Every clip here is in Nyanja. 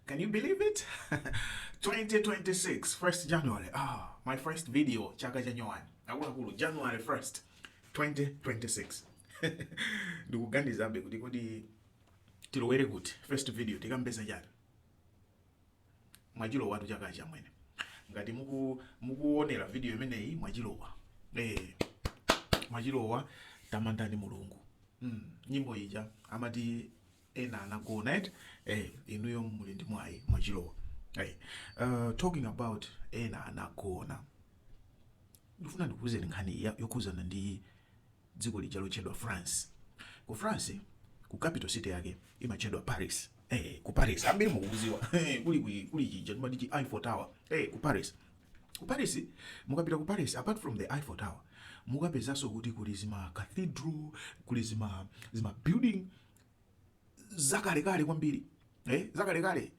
Can you believe it? 2026, 1st January. Ah, my first video, chaka January. Akuluakulu, January 1st, 2026. ndikuganizabe kuti kodi tilowere kuti first video tikambe za chani mwachilowatu chakachi amwene ngati muku- mukuonera video imeneyi mwachilowa eh, mwachilowa tamandani mulungu mm. nyimbo ija amati ena anagona eti eh, inuyo muli ndi mwayi mwachilowa hey, uh, talking about ena anagona ndifuna ndikuuzeni nkhani ya- yokhuzana ndi dziko lija lotchedwa france ku france ku capital city yake imatchedwa paris eh, ku paris ambiri mukuziwa Eh, kuli kuli kuli chija timati chi eiffel tower eh, ku paris ku paris mukapita ku paris apart from the eiffel tower mukapezanso kuti kuli zima cathedral kuli zima zima building zakalekale kwambiri eh, zakalekale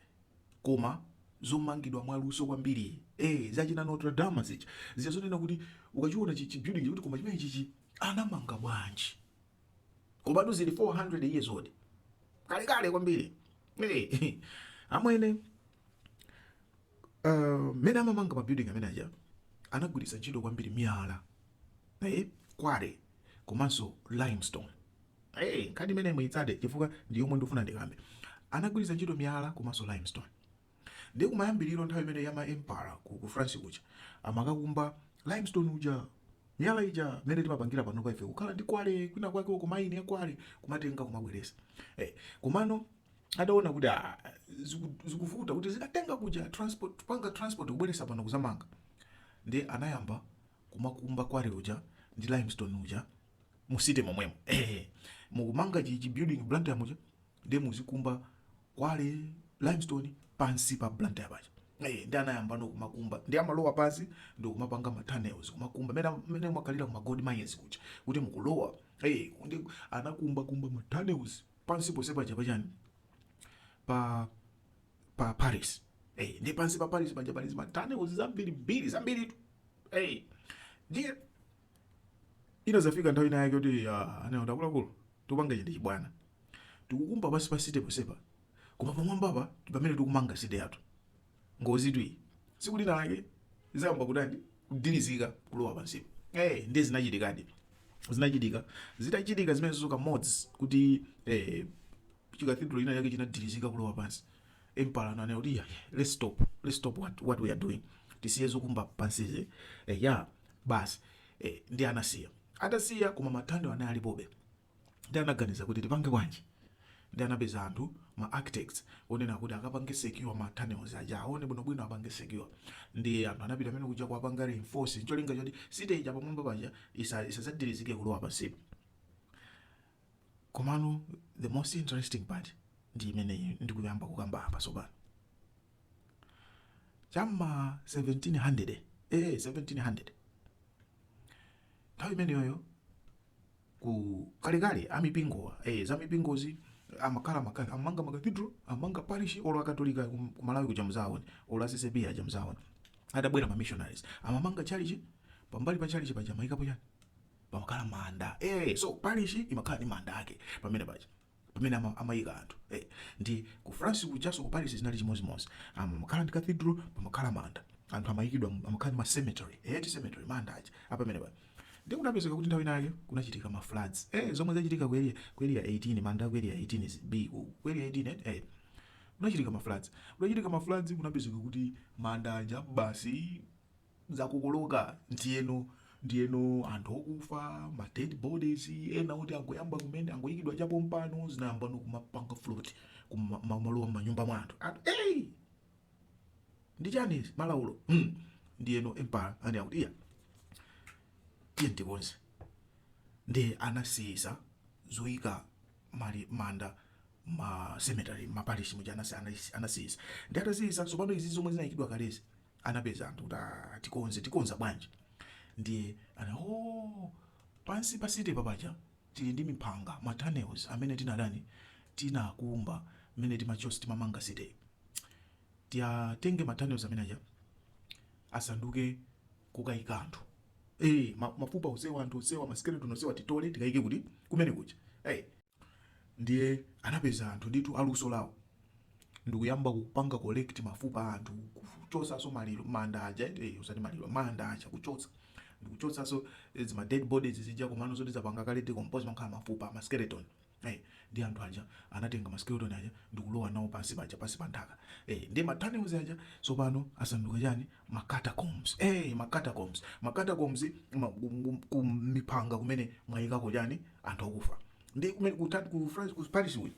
koma zomangidwa mwaluso kwambiri eh, zachina Notre Dame zicha zicha zonena kuti ukachiona chi chi building kuti koma chimene chichi anamanga bwanji komatu zili 400 years old kalekale kwambiri eh, amwene uh, mene amamanga mabuilding amene aja anagwiritsa ntchito kwambiri miyala eh, kwale komanso limestone hey, eh, nkhani imene muitsate chifukwa ndi yomwe ndikufuna ndikambe anagwiritsa ntchito miyala komanso limestone ndi kumayambiriro nthawi imene ya maempara ku, ku france kuja amakakumba limestone uja miyala ija mene timapangira pano kwa ife kukhala ndi kwale kwina kwake uko maini ya kwale kumatenga kumabweresa hey, eh, komano adaona kuti ah, ziku- zikuvuta kuti azikatenga kuja transport kupanga transport kubweresa pano kuzamanga ndi anayamba kumakumba kwale uja ndi limestone uja mu city momwemo eh mukumanga chi chi building blantyre muja ndi muzikumba kwale limestone pansi pa blantyre paja eh ndi anayambano kumakumba ndi amalowa pansi ndi kumapanga ma tunnels kumakumba mene mene mumakhalira kuma gold mines kuja kuti mukulowa eh ndi anakumba kumba ma tunnels Pansi ponse paja pa chani? Pa, pa Paris. Eyi, ndi pansi pa Paris paja pali zima tunnels zambirimbiri, zambiritu. Eyi, ndiye, inazafika nthawi ina yake kuti, ya, ah, anaona kuti akuluakulu, tukupangachi ndi chibwana. Tukukumba pansi pa city ponsepa, koma pamwambapa ndi pamene tukumanga city yathu. ngozitu iyi tsiku lina lake izayamba kutani kudilizika kulowa pansipo eh ndiye zinachitikadi zinachitika zitachitika zimenezo kamodzi kuti eh, chi cathedral ina yake chinadilizika kulowa pansi emperor ananena kuti "Yeah, yeah, let's stop let's stop what, what we are doing tisiye zokumba pansizi eh, ya basi eh, ndi anasiya atasiya koma ma tunnels anali alipobe Nde anaganiza kuti tipange bwanji nde anapeza anthu ma architects onena kuti akapange secure ma tunnels aja awone bwino bwino apange secure nde anthu anapita kumene kuja kuwapanga reinforce ncholinga choti city ija pamwamba paja isa isadzagilizike kulowa pansipa komano the most interesting part ndi imene ndikuyamba kukamba apa sopano chamma 1700 eh 1700 nthawi imeneyoyo ku kalekale amipingowa eh, za mipingozi amakhala maka- amanga makatidro amanga parish olo akatolika kum- kumalawi kuja mudzaona olo a CCAP aja mudzaona atabwera mamissionaries amamanga tchalitchi pambali pa tchalitchi paja amaikapo chani pamakhala manda eh, so parish imakhala ndi manda ake pamene paja pamene ama- amayika anthu eh, nde ku France kujaso ku Paris zinali chimodzimodzi amakhala ndi cathedral pamakhala manda anthu amayikidwa mu- amakhala ndi ma cemetery eh, ti cemetery manda aja apamene paja nde kunapezeka kuti nthawi ina yake kunachitika ma floods eh, zomwe zachitika ku area ku area 18 manda aku area 18 is b ku ku area 18 eh, eh kunachitika ma floods kunachitika ma floods kunapezeka kuti manda aja basi zakokoloka ndiyeno ndiyeno anthu okufa ma dead bodies ena kuti angoyamba kumene angoyikidwa chapompano zinayambano kumapanga float kuma- kumalowa m'manyumba mwa anthu anthu hey! ndi chani izi? malaulo hmm. ndiyeno emperor anena kuti iya tiye tikonze nde anasiyisa zoyika mali manda ma cemetery maparish muja anasi- anasi- anasiyisa nde atasiyisa tsopano izi zomwe zinayikidwa kalezi anapeza anthu kuti aah tikonze tikonza bwanji ndiye ana ooh pansi pa city pa paja tili ndi mipanga ma tunnels amene tinatani tinakumba mmene timachos timamanga cityyi tiwatenge ma tunnels amene aja asanduke kukaika anthu eh ma- mafupa onsewa anthu onsewa ma skeleton onsewa titole tikaike kuti? kumene kuja eh Ndiye anapeza anthu ndithu a luso lawo ndikuyamba kupanga collect mafupa a anthu, kuchotsanso maliro, manda aja eti, eh, osati maliro, manda aja kuchotsa ndikuchotsanso eh, zima dead bodies zija komano zoti zapanga kale decompose amakhala mafupa ma skeleton eh, nde anthu aja anatenga ma skeleton aja ndikulowa nawo pansi paja pansi pa nthaka eh, nde ma tunnels aja tsopano asanduka chani ma catacombs eh, ma catacombs ma catacombs ma- ku- ku- kumipanga kumene mwayikako chani anthu akufa nde kumene ku Tad- ku France ku Paris uku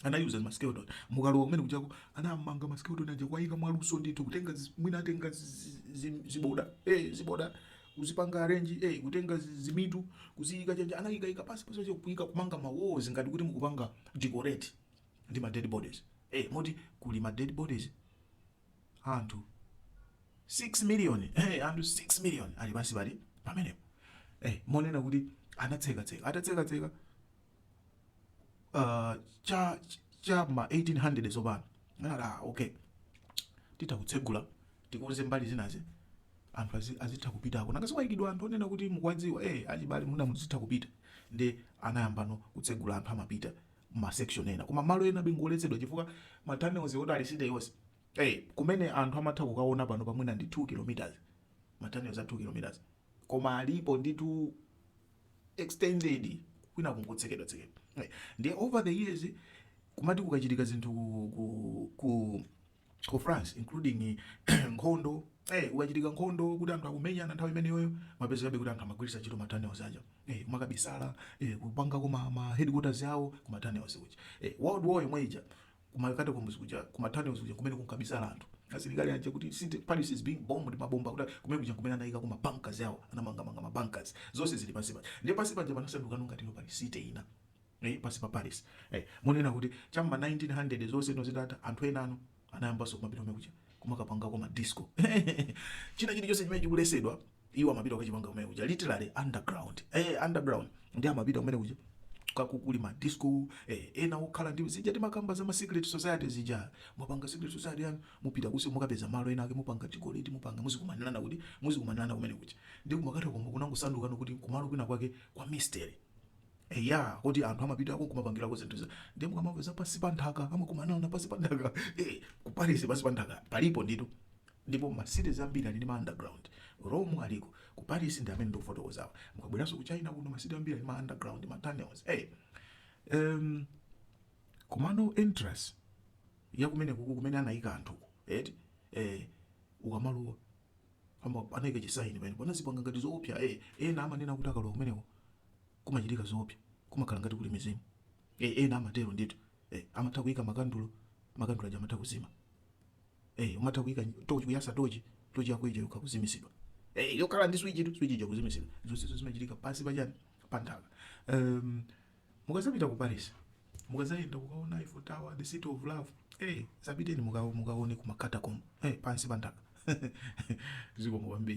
anayuza ma skeleton mukalowa kumene kujako anamanga ma skeleton aja kuwayika mwaluso ndithu kutenga zi- mwina atenga zi- zi- zi- ziboda eh ziboda kuzipanga arrange eh kutenga zi- zimitu kuziyika chonchi anayikayika pasi pasi pasi kuyika kumanga ma walls ngati kuti mukupanga decorate ndi ma dead bodies eh moti kuli ma dead bodies anthu 6 million eh, anthu 6 million ali pansi pali pamenepo eh, monena kuti anatsekatseka atatsekatseka uh, cha cha ma 1800 zapano anati ah, okay titha kutsegula tikonze mbali zinazi anthu azi- azitha kupitako nanga sikwaikidwa anthu onena kuti mukuwadziwa eh, achibale muna muzitha kupita nde anayambano kutsegula anthu amapita ma section ena koma malo enabe ngoletsedwa chifukwa ma tunnels oti ali city yonse eh kumene anthu amatha kukaona pano pamwina ndi 2 kilometers ma tunnels a 2 kilometers koma alipo nditu extended kwina ku nkotsekedwa tsekedwa Eh, ndiye over the years kumati kukachitika zinthu ku, ku, ku ku France including nkhondo eh ukachitika nkhondo kuti anthu akumenyana nthawi imeneyoyo kumapezekabe kuti anthu amagwiritsa ntchito ma tunnels aja eh kumakabisala eh kupangako ma headquarters awo kuma tunnels kuja eh world war yomwe ija kuma catacombs kuja kuma tunnels kuja kumene kunkabisala anthu asilikali aja kuti city Paris is being bombed mabomba kuti kumene kuja kumene anayikako ma bunkers awo anamanga manga ma bunkers zonse zili pansi paja ndiye pansi paja panasanduka ngati no pali city ina eh, pansi pa Paris eh, monena kuti cha ma 1900 zonse no zitatha anthu enano anayambanso kumapita kumene kuja kumakapangako ma disco china chili chonse chimene chikuletsedwa iwo amapita kukachipanga kumene kuja literally underground eh, underground nde amapita kumene kuja kukakhala ma disco eh, ena okhala ndi zija timakamba za ma secret society zija mupanga secret society yanu mupita kunsi mukapeza malo ena ake mupanga ti cult mupanga muzikumanirana kuti muzikumanirana kumene kuja nde ku ma catacomb kunangosanduka kuti kumalo kwina kwake kwa mystery Eya, koti anthu amapitako nkumapangirako zinthu za ndiye mukamamva za pansi pa nthaka amakumana na pansi pa nthaka eh, ku Paris pansi pa nthaka palipo ndithu ndipo ma cities ambiri ali ndi ma underground Rome aliko ku Paris ndi amene ndikufotokozawa mukabweranso ku China kuno ma city ambiri ali ma underground ma tunnels eh um, komano entrance ya kumenekuku kumene anayika anthu eti eh ukamalowa ama anayika chisaini pamene panazipanga ngati zoopsa eh ena amanena kuti akalowa kumeneko kumachitika zoopsa kumakhala ngati kuli mizimu eh ena amatero ndithu eh amatha kuika makandulo makandulo aja amatha kuzima eh umatha kuika tochi kuyasa tochi tochi yako ija yokha kuzimitsidwa eh yokhala ndi switchtu switch ija kuzimitsidwa zonse izo zimachitika pansi pa chani pa nthaka um, mukazapita ku Paris mukazayenda kukaona Eiffel Tower the city of love eh zapiteni muka- mukaone ku ma catacomb eh pansi pa nthaka zikomo kwambiri